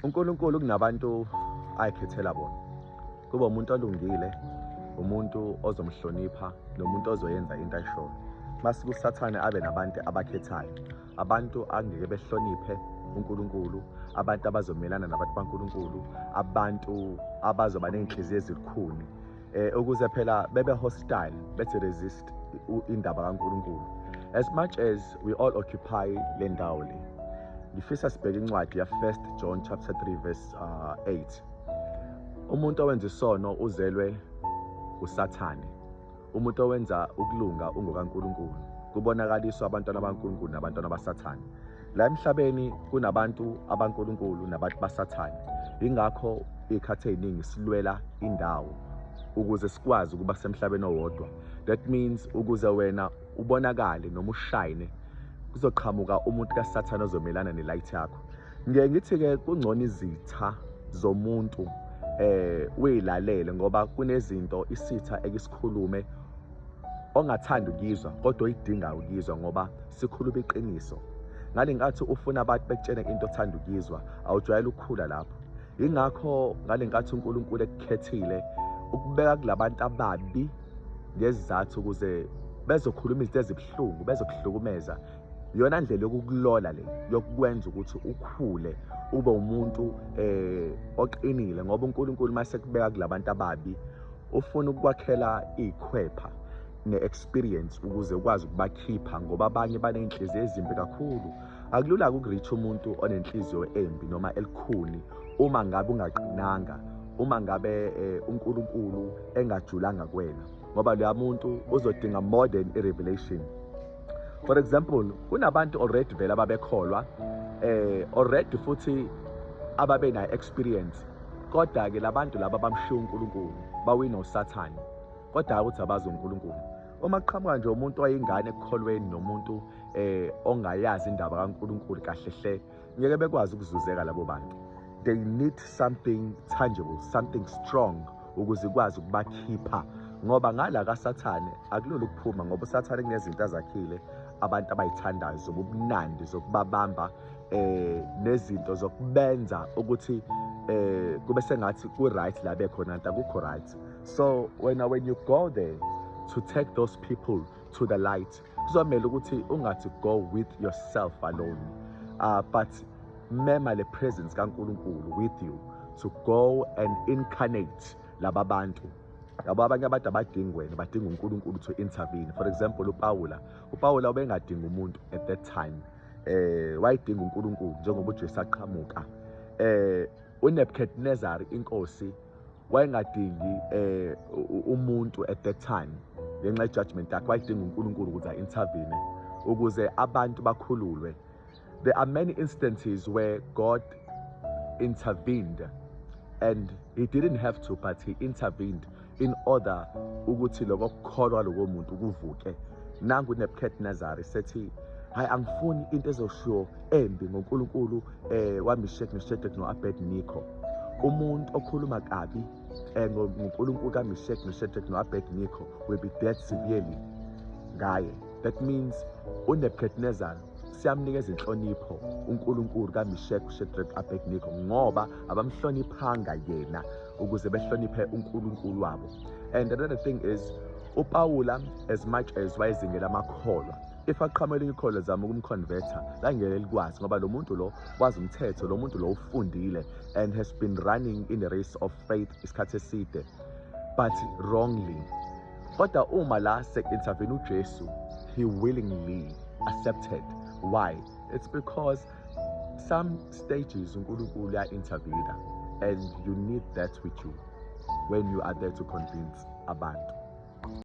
uNkulunkulu kunabantu ayikhethela bona kuba umuntu olungile umuntu ozomhlonipha nomuntu ozoyenza into ayishoyo masiku sathane abe nabantu abakhethayo abantu angeke behloniphe uNkulunkulu abantu abazomelana nabantu baNkulunkulu abantu abazoba nenhliziyo ezikhuni eh, ukuze phela bebe hostile bethi resist indaba kaNkulunkulu as much as we all occupy le ndawo le ngifisa sibheke incwadi ya 1 John chapter 3 verse uh, 8 umuntu owenza isono uzelwe usathane umuntu owenza ukulunga ungokaNkulunkulu kubonakaliswa abantwana baNkulunkulu nabantwana basathane La emhlabeni kunabantu abankulunkulu nabantu basathane ingakho ikhathe eziningi silwela indawo ukuze sikwazi ukuba semhlabeni owodwa that means ukuze wena ubonakale noma ushayine kuzoqhamuka umuntu kasathane ozomelana nelight yakho ngeke ngithi-ke kungcono izitha zomuntu eh uyilalele ngoba kunezinto isitha ekisikhulume ongathanda ukuyizwa kodwa oyidingayo ukuyizwa ngoba sikhuluma iqiniso ngale nkathi ufuna abantu bekutshene into othanda ukuyizwa awujwayele ukukhula lapho yingakho ngale nkathi unkulunkulu ekukhethile ukubeka kulabantu ababi ngezizathu ukuze bezokhuluma izinto ezibuhlungu bezokuhlukumeza iyona ndlela yokukulola le yokukwenza ukuthi ukhule ube umuntu eh oqinile ngoba uNkulunkulu masekubeka kulabantu ababi ufuna ukukwakhela ikhwepha ne-experience ukuze ukwazi ukubakhipha ngoba abanye baney'nhliziyo ezimbi kakhulu akulula-ke ukurich umuntu onenhliziyo embi noma elikhuni uma ngabe ungaqinanga uma ngabe eh, uNkulunkulu engajulanga kuwena ngoba loya muntu uzodinga more than i-revelation for example kunabantu already vele ababekholwa eh already futhi ababe na experience kodwa ke labantu laba bamshiya uNkulunkulu bawina uSathane kodwa ukuthi abazi uNkulunkulu uma kuqhamuka nje umuntu oyingane ekukholweni nomuntu eh ongayazi indaba kaNkulunkulu kahle hle ngeke bekwazi ukuzuzeka labo bantu they need something tangible something strong ukuze ikwazi ukubakhipha ngoba ngala kasathane akulula ukuphuma ngoba usathane kunezinto azakhile abantu abayithandayo zobumnandi zokubabamba eh nezinto zokubenza ukuthi eh kube sengathi ku right la bekhona nta kukho right so wena when you go there to take those people to the light kuzomele ukuthi ungathi go with yourself alone uh, but mema le presence kaNkuluNkulu with you to go and incarnate laba bantu yabo abanye abantu abadingi wena badinga uNkulunkulu to intervene for example uPawula uPawula ubengadingi umuntu at that time eh wayidinga uNkulunkulu njengoba uJesu aqhamuka eh uNebuchadnezzar inkosi wayengadingi eh umuntu at that time ngenxa yejudgment yakhe wayedinga uNkulunkulu ukuthi a-intervene ukuze abantu bakhululwe there are many instances where God intervened and he didn't have to but he intervened in order ukuthi lokho kukholwa lokho muntu kuvuke nangu Nebuchadnezzar sethi hayi angifuni into ezoshiwo embi ngoNkulunkulu eh wamishek noshedek no-abedniko umuntu okhuluma kabi eh, ngonkulunkulu kamishek noshedek no-abedniko will be dead severely ngaye that means unebukadnezar siyamnikeza inhlonipho uNkulunkulu kaMishek uShedrak Abednego ngoba abamhloniphanga yena ukuze behloniphe uNkulunkulu wabo and another thing is uPawula as much as wayezingela amakholwa if aqhama elinye ikhola zama ukumconverter langeke likwazi ngoba lo muntu lo wazi umthetho lo muntu lo ufundile and has been running in the race of faith isikhathi eside but wrongly kodwa uma la sek-intervene ujesu he willingly accepted why it's because some stages unkulunkulu uya-intervene and you need that with you when you are there to convince abantu